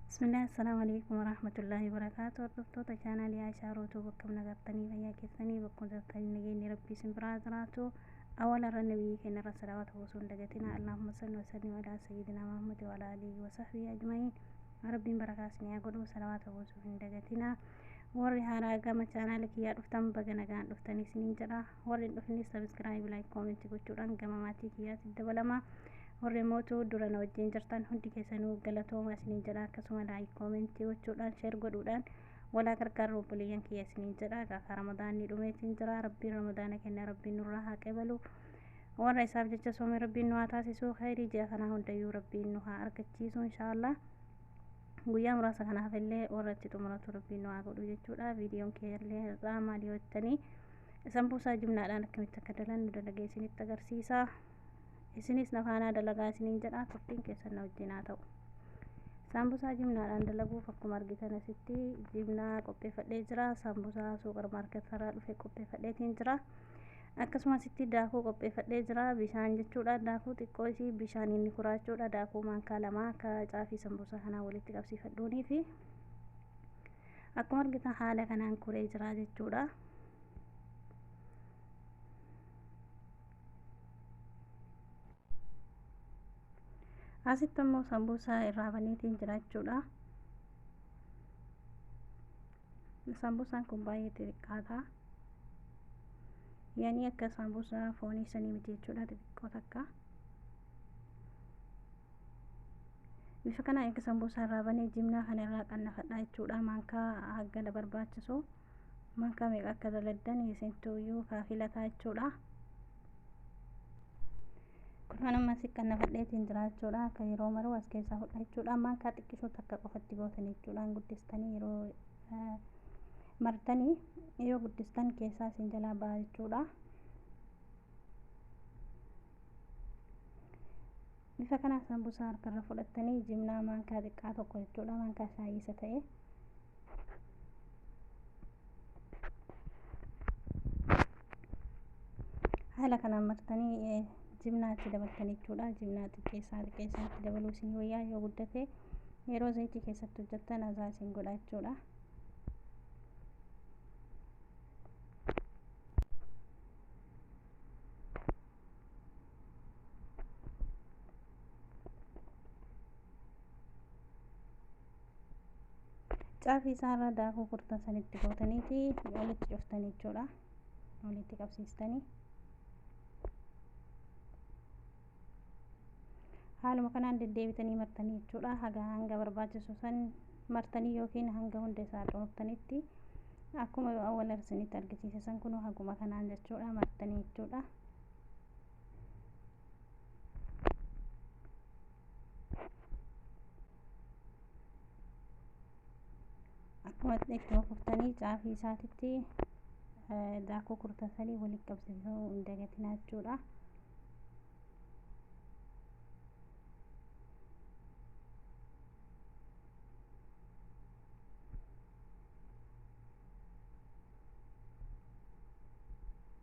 Bismillah, Assalamu alaikum wa rahmatullahi wa barakatuh. Hordoftoota chaanaalii Aishaa Rootuu bakka nagartanii fayyaa keessanii bakka jirtanii nageenyi rabbii isin biraa jiraatu. Awwaala irra nabiyyi keenya irra salawaata buusuun dagatina. Allahumma salli wa sallim ala sayyidina Muhammad wa ala alihi wa sahbihi ajma'iin. Rabbiin barakaas ni haa godhu salawaata buusuu hin dagatina. Warri haaraa gama chaanaala kiyyaa dhuftan baga nagaan dhuftanii isiniin jedha. warri hin dhufne sabiskiraayib laayik koomentii gochuudhaan gama maatii kiyyaatti dabalama warri mootu dura na wajjin jirtan hundi keessanuu galatooma isiniin jedha akkasuma laayik koomentii gochuudhaan sheer godhuudhaan walaa gargaarru obboleeyyan kiyya isiniin jedha gaafa ramadaanni dhumeetiin jira rabbiin ramadaana kenna rabbiin nurraa haa qeebalu warra isaaf jecha soome rabbiin nu haa taasisuu khayrii ji'a kanaa hundayyuu rabbiin nu haa argachiisu inshaallah guyyaa muraasa kanaaf illee warra itti xumuratu rabbiin nu haa godhu jechuudha viidiyoon kee illee irraa maal yoo jettanii Isan buusaa jumlaadhaan akkamitti akka dalannu dalagee isinitti agarsiisa. Isinis na faanaa dalagaa isiniin jedha turtiin keessan na wajjin haa ta'u. Saambusaa jimnaadhaan dalaguuf akkuma argitan asitti jimnaa qopheeffadhee jira. Saambusaa suuqar maarketarraa dhufe qopheeffadheetiin jira. Akkasuma asitti daakuu qopheeffadhee jira. Bishaan jechuudha. Daakuu xiqqoo isii bishaan inni kuraachuudha. Daakuu maankaa lama akka caafii sambusaa kanaa walitti qabsiifadhuunii fi Akkuma argitan haala kanaan kuree jira jechuudha. Asitti immoo sambuusaa irraa baneetiin jira jechuudha. Sambuusaan kun baay'ee xixiqqaata. Yaanii akka sambuusaa foonii sanii miti jechuudha xixiqqoo takka. bifa kana erga sambuusaa irraa banee jimnaa kana irraa qannafadhaa jechuudha maankaa haggana barbaachisu maankaa meeqa akka daladdan isintuuyyuu kaafilataa jechuudha kunuun ammas qannafadheetiin jira jechuudha akka yeroo maruu as keessaa fudha jechuudha maankaa xiqqishuu takka qofatti gootan jechuudhaan guddistanii yeroo martanii yoo guddistan keessaa isin jalaa ba'a jechuudha Bifa kanaan sambusaa harkarra fudhattanii jimnaa maankaa xiqqaa tokko jechuudha maankaa shaayii isa ta'e. Haala kanaan martanii jimnaa itti dabaltan jechuudha. Jimnaa xiqqeessaa xiqqeessaa itti dabaluu isin wayyaa yoo guddate yeroo zayitii keessatti hojjettan azaa isin godha jechuudha. caafii isaarra daakuu kurtan sanitti gootaniiti walitti cuftanii jechuudha walitti qabsiistanii haaluma kanaan deddeebitanii martanii jechuudha haga hanga barbaachisu san martanii yookiin hanga hunda isaa xumurtanitti akkuma awwala isinitti argisiise san kun haguma kanaan jechuudha martanii jechuudha akkuma ittuma kuftanii caafii isaatitti daakuu kurtasanii walitti qabsiisuu hin dagatinaa jechuudha.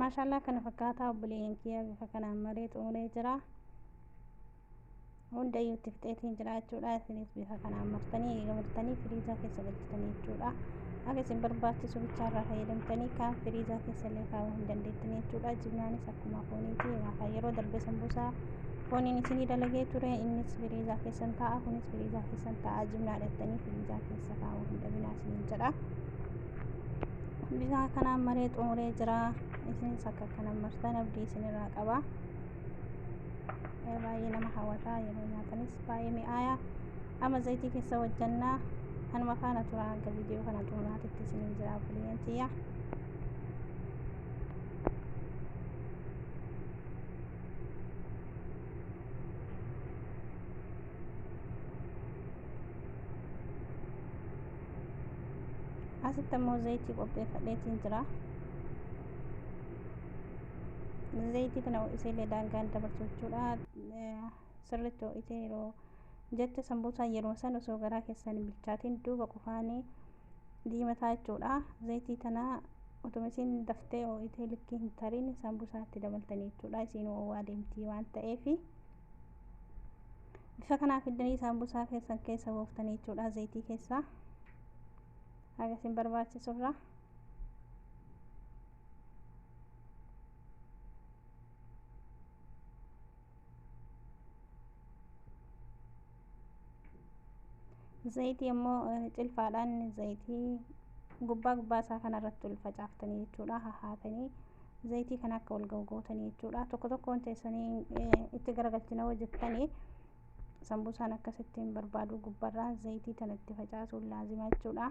maashaallah kana fakkaataa obboleeyyan kiyya bifa kanaan maree xumuree jira hundayyuu itti fixeetiin jira jechuudha isinis bifa kanaan martanii eega martanii firiizaa keessa galchitanii jechuudha akka isin barbaachisu bichaarraa fayyadamtanii kaan firiizaa keessa illee kaa'uu hin dandeettanii jechuudha jimnaanis akkuma fooniiti egaa yeroo darbe sambuusaa fooniin isinii dalagee ture innis firiizaa keessan taa'a kunis firiizaa keessan taa'a jimnaa dhattanii firiizaa keessa kaa'uu hin dhabinaa isiniin jedha bisaa kanaan maree xumuree jira isinis akka kanan martan abdii isinirraa qaba baay'ee nama hawwataa yeroo nyaatanis baay'ee mi'aaya amma zayitii keessa hojjannaa anuma faana tura hanga viidiyoo kana xumuraatitti isiniin jira buliyyeen tiyya asitti immoo zayitii qopheeffadheetiin jira zayitii kana ho'iseellee daangaan dabarsu jechuudha sirriitti ho'isee yeroo jette sambuusaa yeroo san osoo garaa keessan hin bilchaatiin duuba qufaanii diimataa jechuudha zayitii kana otuma isiin daftee ho'itee likkii hin tariin sambuusaatti dabaltanii jechuudha isiin ho'aa deemtii waan ta'eefi. bifa kanaa fiddanii saambusaa keessan keessa buuftanii jechuudha zayitii keessaa haga isin barbaachisurraa Zayitii immoo eh, cilfaadhaan zayitii gubbaa gubbaa isaa kanarratti ol facaaftanii jechuudha hahaatanii zayitii kana akka ol ga'u gootanii jechuudha tokko tokkoon teessanii eh, itti garagalchina hojjettanii sambuusaan akkasitti hin barbaadu gubbarraa zayitii tana itti facaasuun laazima jechuudha.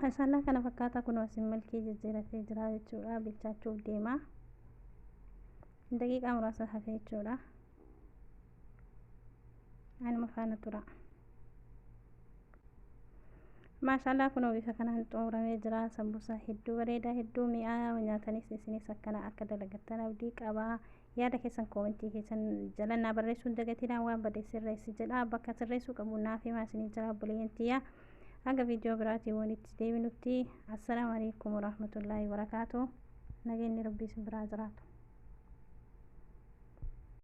Maashaallah kana fakkaataa kun wasin milkii jijjiiratee jira jechuudha bilchaachuuf deema daqiiqaa muraasa hafee jechuudha anuma faana tura maashaallah kun bifa kanaan xumuramee jira sambusaa hedduu bareedaa hedduu mi'aa nyaatanis isinis akkana akka dalagattan abdii qabaa Yaada keessan koomentii keessan jala naa barreessuun dagatinaa waan bade sirreessi jedha bakka sirreessuu qabu naaf himaa isinii jala obboleeyyan tiyya. Hanga viidiyoo biraatiin walitti deebinutti assalaamu alaikum warahmatullaahi wabarakaatu. Nageenyi rabbii isin biraa jiraatu.